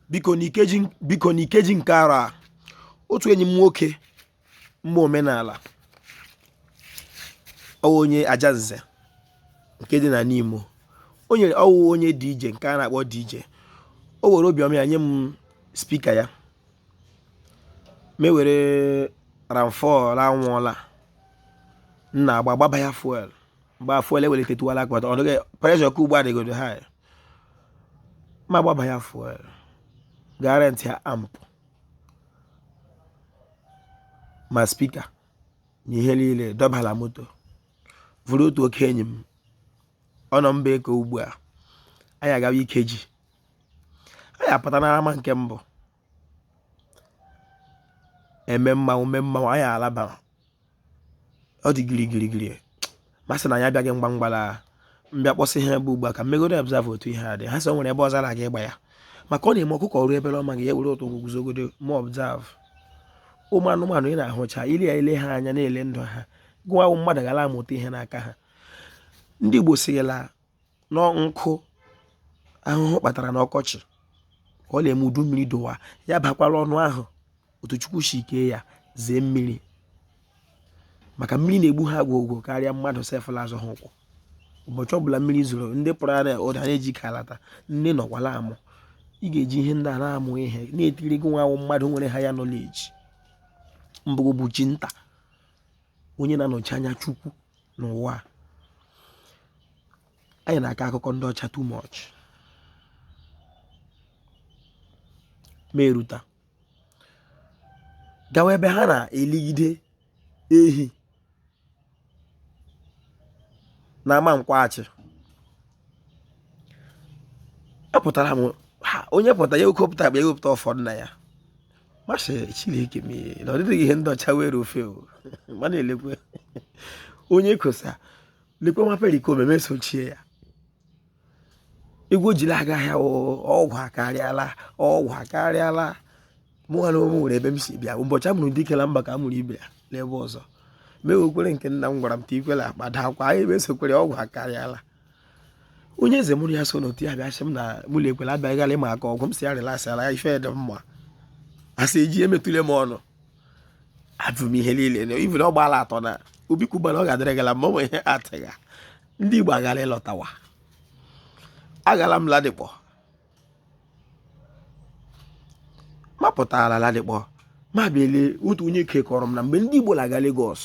biko n'ikeji nke arọ a otu enyi m nwoke mma omenala ọ wụ onye ajanze nke dị na n'imo o nyere ọ wụ onye DJ nke a na-akpọ DJ o were obiọma ya nye m spika ya mewere ramfọl anwụọla nna agba gbaba ya fuel mgbe fuel ewelitetuwala akpata ọ dịghị preshọ ka ugbu a dịgodo high ma gbaba ya fuel gaa rentịa amp ma spika na ihe niile dọbala moto vuru otu oke enyi m ọ nọ mba eke ugbu a anyị agawa ikeji anyị apụta n'ama nke mbụ eme mmanwụ mee mmanwụ anyị alaba ọ dị giri giri giri ma sị na anyị abịaghị mgba mgbala mbịa kpọsị ha ebe ugbu a ka m megodo observe otu ihe a dị ha sị o nwere ebe ọzọ na-aga ịgba ya maka ọ na-eme ọkụkọ o rue ebe ọ maghị ya ewere otu ụkwụ guzogodo ma observe ụmụ anụmanụ ị na-ahụcha ile ya ile ha anya na-ele ndụ ha gị wụ mmadụ gara amụta ihe n'aka ha ndị Igbo sịrịla nọ nkụ ahụhụ kpatara n'ọkọchị ka ọ na-eme udu mmiri dowa ya abakwala ọnụ ahụ otu chukwu si kee ya zee mmiri maka mmiri na-egbu ha gwogwo karịa mmadụ sef la-azọ ha ụkwụ ụbọchị ọbụla mmiri zoro ndị pụrụ ara ụda na-eji ka alata ndị nọkwala amụ ị ga-eji ihe ndị a na-amụ ihe na-etiri gị wụ mmadụ nwere higher knowledge mbụgo bụ chi nta onye na-anọchi anya Chukwu n'ụwa a anyị na-aka akụkọ ndị ọcha too much ma eruta gawa ebe ha na-eligide ehi na ama nkwọ achị apụtara m ha onye pụta ya ekopụta akpa ya wepụta ụfọdụ na ya m asị chineke m na ọ dịghị ihe ndị ọcha were ofe o ma na-elekwe onye kosa lekwe nwa Pericoma esochie ya egwu jiri aga ahịa ọgwụ akarịala ọgwụ akarịala mụnwa na onwe m nwere ebe m si bịa ụbọchị a mụrụ dike na mba ka a mụrụ ibe ya n'ebe ọzọ m ekwere nke nna m gwara m ta ikwela akpa daa akwa anyị ebe esokwere ọgwụ akarịala onye eze mụrụ ya so n'otu ya bịa sị m na mụlụ ekwela abịaghị gara ịma aka ọgwụ m sị ya relasịala ya ife dị mma asị eji emetụle m ọnụ ajụ m ihe niile na ibu na ọ gbaala atọ na obi kwubara ọ ga-adịrị gala ma ọ nwere ihe atịgha ndị igbo agara ịlọtawa agala m Ladipo mapụtara Ladipo ma bịa lee otu onye ike kọrọ m na mgbe ndị Igbo na-aga Lagos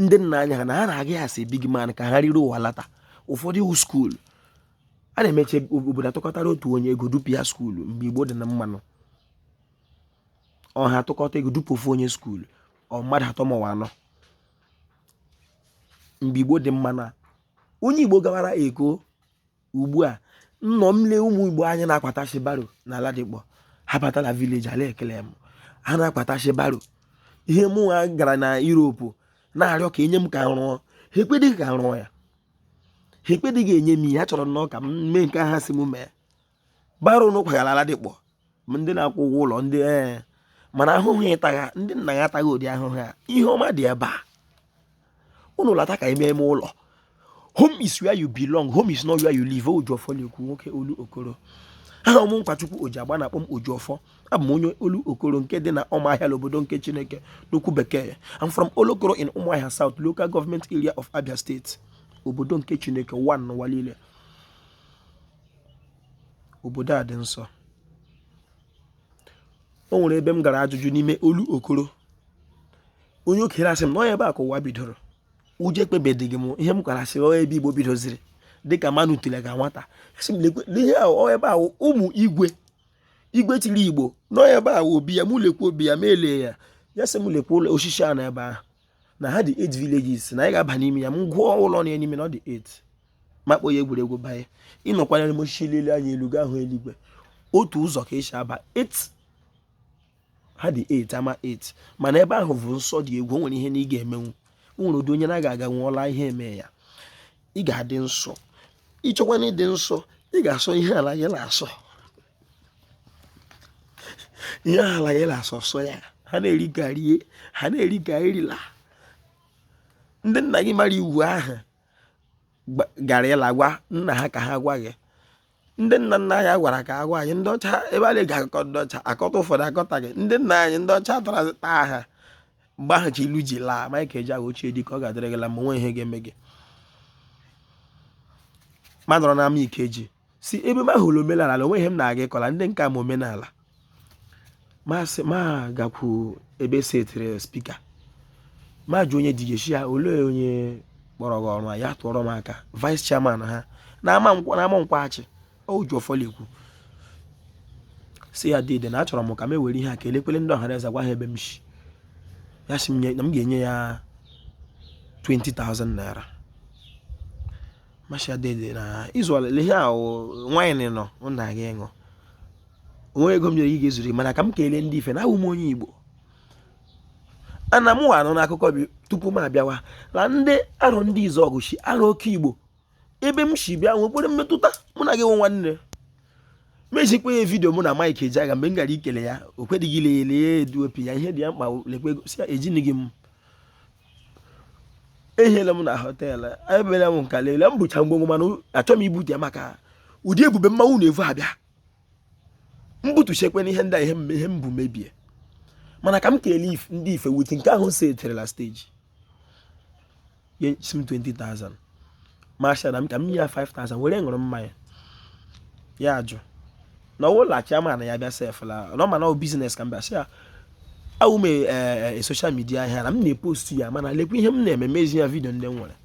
ndị nna anyị ha na ha na-aga ya asị big man ka ha riri ụwa lata ụfọdụ iwu skuulu a na-emeche obodo atụkọtara otu onye ego dupu ya skuulu mgbe Igbo dị na mmanụ ọha atụkọta ego dupu ofu onye skuulu ọ mmadụ atọ ma anọ mgbe Igbo dị mmanụ onye Igbo gawara Eko ugbu a nnọ m lee ụmụ igbo anyị na-akwatachi baro na Ladipo ha bata na village a la-ekele m ha na-akwatachi baro ihe mụ nwa gara na Europe na-arịọ ka enye m ka rụọ ha ekwedịghị ka rụọ ya ha ekwedịghị enye m ihe ha chọrọ nnọọ ka m mee nke ha sị m mee baro ụnụ kwagha la Ladipo ma ndị na-akwụ ụgwọ ụlọ ndị ee mana ahụhụ ị tagha ndị nna ya ataghị ụdị ahụhụ a ihe ọma dị ebe a ụnụ lata ka ime ime ụlọ home is where you belong home is not where you live Ojiọfọ na-ekwu nwoke Olokoro aha m wụ Nkwachukwu oji agba na-akpọ m Ojiọfọ abụ m onye Olokoro nke dị na ụmụahịa n'obodo nke chineke n'okwu bekee I'm from olokoro in ụmụahịa south local government area of Abia State obodo nke chineke one n'ụwa niile obodo a dị nsọ o nwere ebe m gara ajụjụ n'ime Olokoro onye okenye asị m na ọ wụ ebe a ka ụwa bidoro ụjọ ekwebedịghị m ihe m kwara sịrị ọ wụ ebe igbo bidoziri dịka mmanụ tule ga nwata asị m ihe a ọ wụ ebe a ụmụ igwe igwe chịrị igbo na ọ wụ ebe a obi ya m lekwa obi ya ma elee ya ya sị m lekwa ụlọ osisi a na ebe ahụ na ha dị 8 villages na anyị ga-aba n'ime ya m gụọ ụlọ na ya n'ime na ọ dị 8 ma kpọọ ya egwuregwu banye ịnọkwanyere m osisi lele anya elu ga-ahụ eluigwe otu ụzọ ka esi aba 8 ha dị 8 ama 8 mana ebe ahụ bụ nsọ dị egwu o nwere ihe na ị ga-emenwu o nwere ụdị onye na-aga aga nwụọla ihe eme ya ị ga-adị nsọ ịchọkwa na ịdị nsọ ị ga-asọ ihe ala gị na-asọ ihe ala gị na-asọ sọ ya ha na-eri gị erie ha na-eri gị erila ndị nna gị mara iwu ahụ gara ịla gwa nna ha ka ha gwa gị ndị nna nna anyị gwara ka agwa anyị ndị ọcha ebe a na-eji akụkọ ndị ọcha akọta ụfọdụ akọtaghị ndị nna anyị ndị ọcha tara taa ha mgbe ahụ ilu ji laa Mike Ejeagha ochie dike ọ ga-adịrị gị la mma onwe ihe ga-eme gị ma nọrọ n'ama Ikeji si ebe m ahụrụ omenala na onwe ihe m na-aga ịkọla ndị ka m ama omenala masị ma gakwu ebe e setịrị speaker ma jụ onye DJ shị ya olee onye kpọrọ gị ọrụ ya tụọrọ m aka vice chairman ha na ama Nkwọ Achi Ojiọfọ la-ekwu sị ya dede na achọrọ m ka m ewere ihe a ka elekwele ndị ọhaneze gwa ha ebe m si ya sị m na m ga-enye ya 20,000 naira m asị ya dede na izu ọlele ihe ahụ nwaanyị nọ na aga ịṅụ onwe ego m nyere gị ga-ezuru mana ka m kelee ndị ife na awụ m onye igbo ana m anụ n'akụkọ bi tupu m abịawa na ndị Arọndizuọgụ si arọ oke igbo ebe m si bịa nwekwere mmetụta mụ na gị nwe nwanne mejikwa ya vidio mụ na Mike Ejeagha mgbe m gara ikele ya o kwedịghị ile ya edu opi ya ihe dị ya mkpa lekwa ego si ya ejini gị m ehiela m na họteelụ emela m nka leele m bucha ngwongwo mana achọ m ibute ya maka ụdị ebube mmanwụ na-evu abịa m butuchekwe na ihe ndị a ihe m- ihe m bu mebie mana ka m kelee if- ndị ife with nke ahụ setirila stage ya sị m 20,000 m asị ya nna m ka m nye ya 5000 were ṅụrụ mmanya ya ajụ na ọ wụ la chairman ya bịa sef la na ọ ma na ọ business ka m bịa sị ya awụ m e social media ahịa na m na-epostu ya mana lekwa ihe m na-eme mezi ya vidio ndị m nwere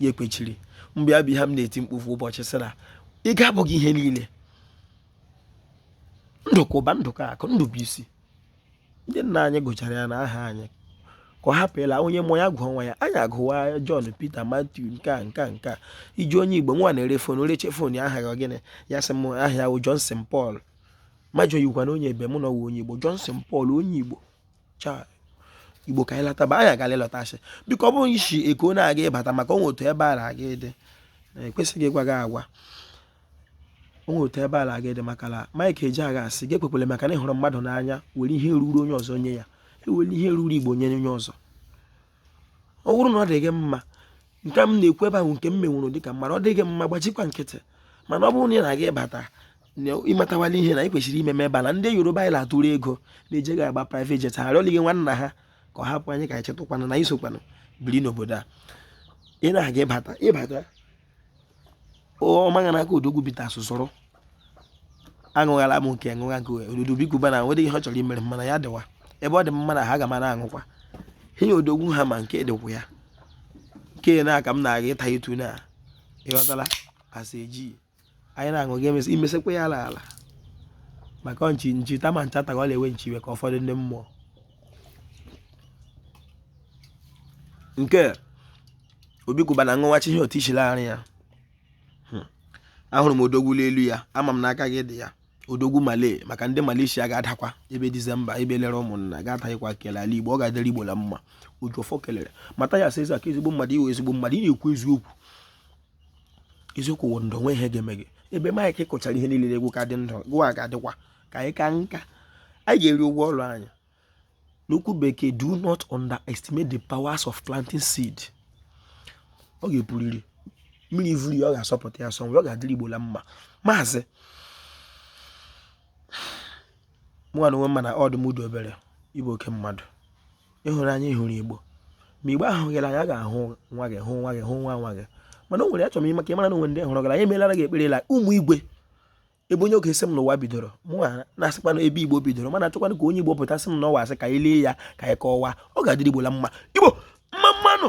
ya ekwechiri mgbe ya bụ ihe m na-eti mkpu ofu ụbọchị sị na ego abụghị ihe niile ndụ ka ụba ndụ ka akụ ndụ bụ isi ndị nna anyị gụchara ya na aha anyị ka a hapụla onye mụọ ya gụọ nwa ya anyị agụwa John Peter Matthew nke a nke a nke a iji onye Igbo nwa na-ere fon reche fon ya aha ya gịnị ya sị m aha ya wụ Johnson Paul m ajụọ yakwa na onye ebe mụ na ọ wụ onye Igbo Johnson Paul onye Igbo cha Igbo ka anyị lataba anyị agala ịlọta asị biko ọ bụrụ ị si Eko na-aga ịbata maka onwe otu ebe a na-aga ịdị ekwesịghị ịgwa gị agwa onwe otu ebe ala gị dị maka na Mike Ejeagha asị gị ekwekwele maka na ị hụrụ mmadụ n'anya were ihe ruru onye ọzọ nye ya ewere ihe ruru Igbo nye onye ọzọ ọ bụrụ na ọ dị gị mma nke m na-ekwu ebe ahụ nke m menwụrụ dịka mmadụ ọ dịghị mma gbachikwa nkịtị mana ọ bụrụ na ị na-aga ịbata ị matawala ihe na ị kwesịrị ime ebe a na ndị Yoruba anyị na-atụrụ ego na-eje gị agba private jet ha arịọlighị nwanna ha ka ọ hapụ anyị ka anyị chetụkwana na anyị sokwana biri n'obodo a ị na-aga ịbata ịbata ọmaghị n'aka odogwu bitters sọrọ aṅụghala m nke ṅụgha nke dede Obi Cubana nwere ihe ọ chọrọ imere mana ya dịwa ebe ọ dị mma na ha ga mara aṅụkwa ihe odogwu Hammer nke dịkwa ya nke na aka m na-aga ịta etu na ị ghọtala asị eji anyị na-aṅụ ga emesị imesịkwa ya ala ala maka nchi nchi tama ncha taga ọ na-ewe nchi iwe ka ụfọdụ ndị mmụọ nke Obi Cubana ṅụwachi ihe otu ichiri ara ya hmm. ahụrụ m odogwu n'elu ya ama m n'aka gị dị ya odogwu Malay maka ndị malaysia ga-adakwa ebe dizemba ebe lere ụmụnna ga-ataghịkwa kele ala igbo ọ ga-adịrị igbo na mma ojuọfọ kelere mata ya sịza ka ezigbo mmadụ ị wụ ezigbo mmadụ ị na-ekwu eziokwu eziokwu wụ ndụ nwe ihe ga-eme gị ebe Mike kụchara ihe niile egwu ka dị ndụ gụwa ga-adịkwa ka anyị ka nka anyị ga-eri ụgwọ ọrụ anyị n'okwu bekee do not underestimate the powers of planting seed ọ ga-epuriri mmiri vuru ya ọ ga-asọpụta ya sọ ọ ga-adịrị igbo na mma maazị mụnwa na onwe m ma na odumodu obere ị bụ oke mmadụ ị hụrụ anyị hụrụ igbo ma igbo ahụ gị la anya ga-ahụ nwa gị hụ nwa gị hụ nwa nwa gị mana o nwere achọrọ m ịma ka ị mara na o nwe ndị hụrụ gị la anya emelara gị ekpere la ụmụ igwe ebe onye ọ ga-asị m na ụwa bidoro mụ na-asịkwa na ebe igbo bidoro mana achọkwanụ ka onye igbo pụta sị m na ọ wụ asị ka anyị lee ya ka anyị kọwa ọ ga-adịrị igbo la mma igbo mma mma nụ